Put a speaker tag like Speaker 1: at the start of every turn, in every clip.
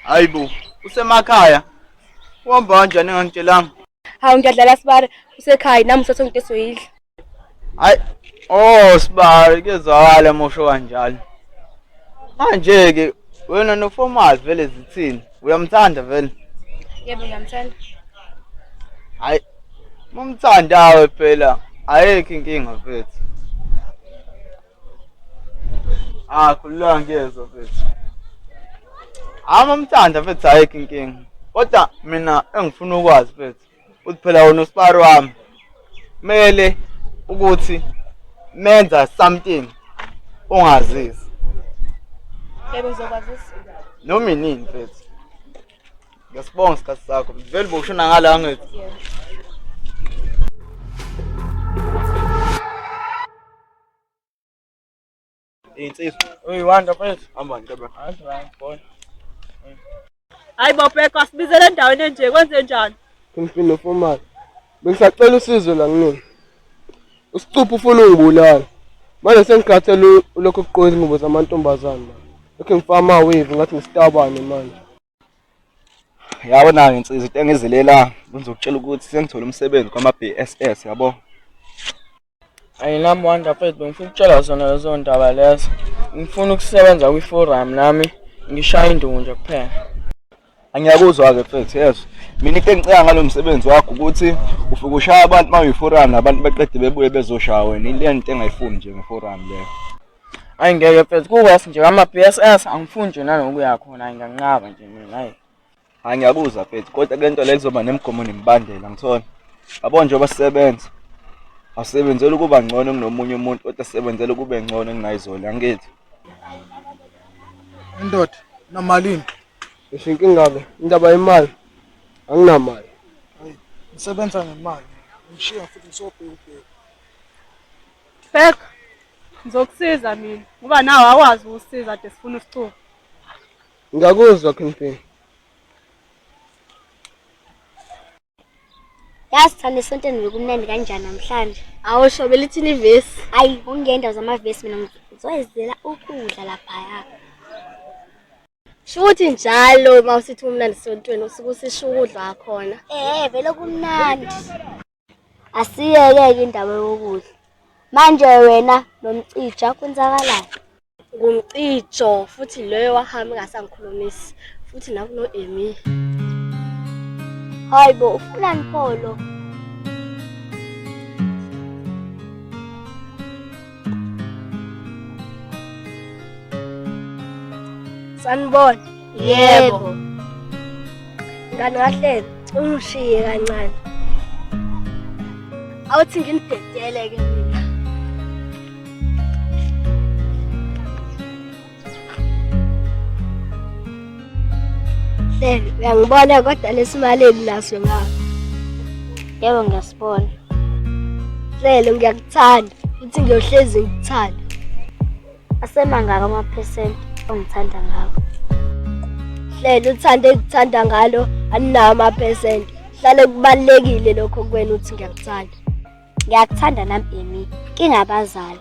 Speaker 1: Hayi bo, usemakhaya. Uhamba kanjani engangitshelanga? Hawu ngiyadlala
Speaker 2: sibara usekhaya nami usathe nginte soyidla.
Speaker 1: Hayi. Oh sibara kuyezwakala mosho kanjalo. Manje ke wena noformal vele zithini? Uyamthanda vele? Yebo
Speaker 2: ngiyamthanda.
Speaker 1: Hayi. Mumthandawe phela ayekho inkinga mfethu. Ah, khululeka ngiyezwa mfethu. Hayi mamthanda mfethu ayikho inkinga. Kodwa mina engifuna ukwazi mfethu uthi phela wona usibari wami. Mele ukuthi menza something ongazisi. Yebo
Speaker 2: ngizokwazisa. Noma inini
Speaker 1: mfethu. Ngesibonga isikhathi sakho. Vele bokushona ngala ngithi. Yebo. Insizwa. Uyi wanda
Speaker 3: mfethu. Hamba nje
Speaker 2: bro. Hayi right boy. Hayi bobheko asibizele endaweni enje kwenze njani? Kumfino fomali.
Speaker 3: Bengisacela usizo la kunini. Usicupha ufuna ungibulala. Manje sengikhathele lokho kuqoka izingubo zamantombazane. Lokho ngifama wave ngathi ngistabane manje. yabo
Speaker 1: nayo insizwa into engizilela ngizokutshela ukuthi sengithole umsebenzi kwama-bss yabo ayinami
Speaker 3: wanda fethu bengifuna ukutshela zona lezo ndaba lezo ngifuna ukusebenza kwi-forum nami ngishaya induku nje kuphela angiyakuzwa-ke
Speaker 1: fethu yezwa mina into engiceka ngalo msebenzi wakho ukuthi ufike ushaya abantu uma uyi-forum nabantu beqede bebuye bezoshaya wena ile nto engayifuni nje nge-forum leyo Ayi ngeke
Speaker 3: mfethu kuwes nje ama BSS angifuni nje nanokuya khona ayi ngiyanqaba nje mina ayi. Hayi ngiyakuzwa
Speaker 1: mfethu kodwa kule nto le kuzoba nemigomo nemibandela ngithona. Yabo nje obasebenza. Asebenzela ukuba ngcono kunomunye umuntu kodwa asebenzela ukube ngcono kunayizolo angithi.
Speaker 4: Indoda namalini? Ngisho inkinga
Speaker 3: ke indaba yemali anginamali.
Speaker 4: Ngisebenza ngemali. Ngishiya futhi ngisobheka ubheka.
Speaker 2: Spek, ngizokusiza mina ngoba nawe awazi ukusiza ade sifuna usicuba.
Speaker 3: Ngiyakuzwa Kingpin.
Speaker 5: Yazi thanda esontweni bekumnandi kanjani namhlanje. Awusho belithini
Speaker 2: ivesi? Ayi, ungenda
Speaker 5: zamavesi mina ngizoyizela ukudla laphaya.
Speaker 2: Shukuthi njalo uma usithi umnandi sontweni usuke usisho ukudla khona. Eh, vele
Speaker 5: kumnandi. Asiyeke-ke indaba yokudla. Manje wena nomcija kwenzakalani? Ngumcijo
Speaker 2: futhi loyo wahamba engasangikhulumisi futhi nakuno-Amy.
Speaker 5: Hayi bo, ufunani pho lo?
Speaker 2: Sanibona. Yebo. Ngane kahle ungishiye kancane. Awuthi nginidedele ke mina. Hleli, uyangibona kodwa lesimali elinaso ngapha.
Speaker 5: Yebo ngiyasibona.
Speaker 2: Hleli, ngiyakuthanda futhi ngiyohlezi ngikuthanda.
Speaker 5: Asemangaka amaphesenti ongithanda ngawo?
Speaker 2: Hleli, uthanda engikuthanda ngalo alinawo amaphesenti. Hlale kubalulekile lokho kuwena uthi ngiyakuthanda. Ngiyakuthanda
Speaker 5: nami Amy, kingabazali.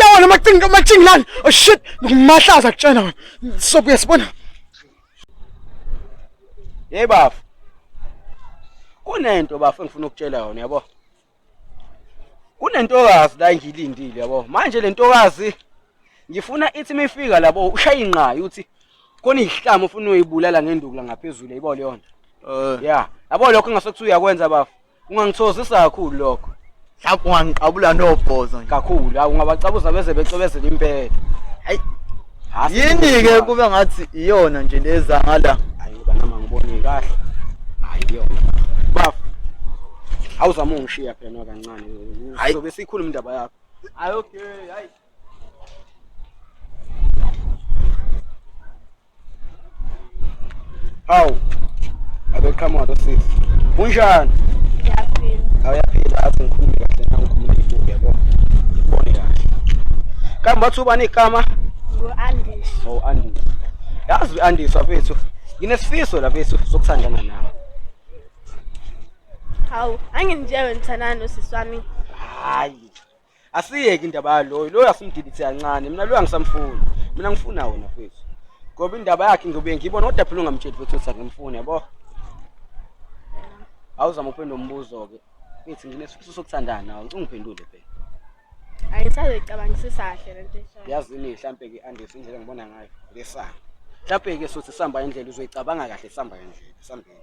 Speaker 4: Yawa lama thing lama thing lana. Oh shit, ngimahlaza kutshena wena. So uyasibona.
Speaker 1: Hey bafu. Kunento bafu engifuna ukutshela yona yabo. Kunentokazi la ngilindile yabo. Manje lentokazi ngifuna ithi mifika labo ushaya inqayi uthi kona izihlamo ufuna uyibulala ngenduku la ngaphezulu yayibona leyo nto. Eh. Yeah. Yabo lokho ngasokuthi uyakwenza bafu. Ungangithokozisa kakhulu lokho. Mhlawumbe ungangiqabula
Speaker 4: nobhozo nje. Kakhulu, awu ungabacabuza
Speaker 1: beze becwebezela impela. Hayi. Hasi Yini
Speaker 4: ke ngibona. kube ngathi iyona nje leza ngala. Hayi banama ngibone
Speaker 1: kahle. Hayi yona. Bafo. Awuzama ungishiya phela nwa kancane. Hayi. Sobe sikhuluma indaba yakho. Hayi okay,
Speaker 4: hayi.
Speaker 1: Hawu. Abeqhamuka lo sisi. Kunjani? Ngiyaphila.
Speaker 2: Awuyaphila athi
Speaker 1: ngikhulume kahle na ngikhuluma ibuke yabo. Ngibone kahle. Kambe wathi ubani igama? Ngo-Andis.
Speaker 2: Oh Andis.
Speaker 1: Yazi u-Andis wafethu. Nginesifiso la bethu sokuthandana nawe.
Speaker 2: Hawu, angingitshele wena uthandana nosisi wami. Hayi.
Speaker 1: asiyeke indaba yaloyo loyo asimdidithe kancane mina loyo angisamfuni mina ngifuna wona mfethu ngoba indaba yakhe ngiyobe ngiyibona kodwa phela ungamtsheli mfethu ukuthi angimfuni yabo awuzama uphendula umbuzo-ke mfethu nginesifiso sokuthandana ungiphendule phela ayi ngisazoyicabangisisa
Speaker 2: kahle le nto eshayo yazini mhlampe-ke
Speaker 1: andise indlela ngibona ngayo lesanga mhlampe-ke sothi sihamba indlela uzoyicabanga kahle sihamba indlela sihambeni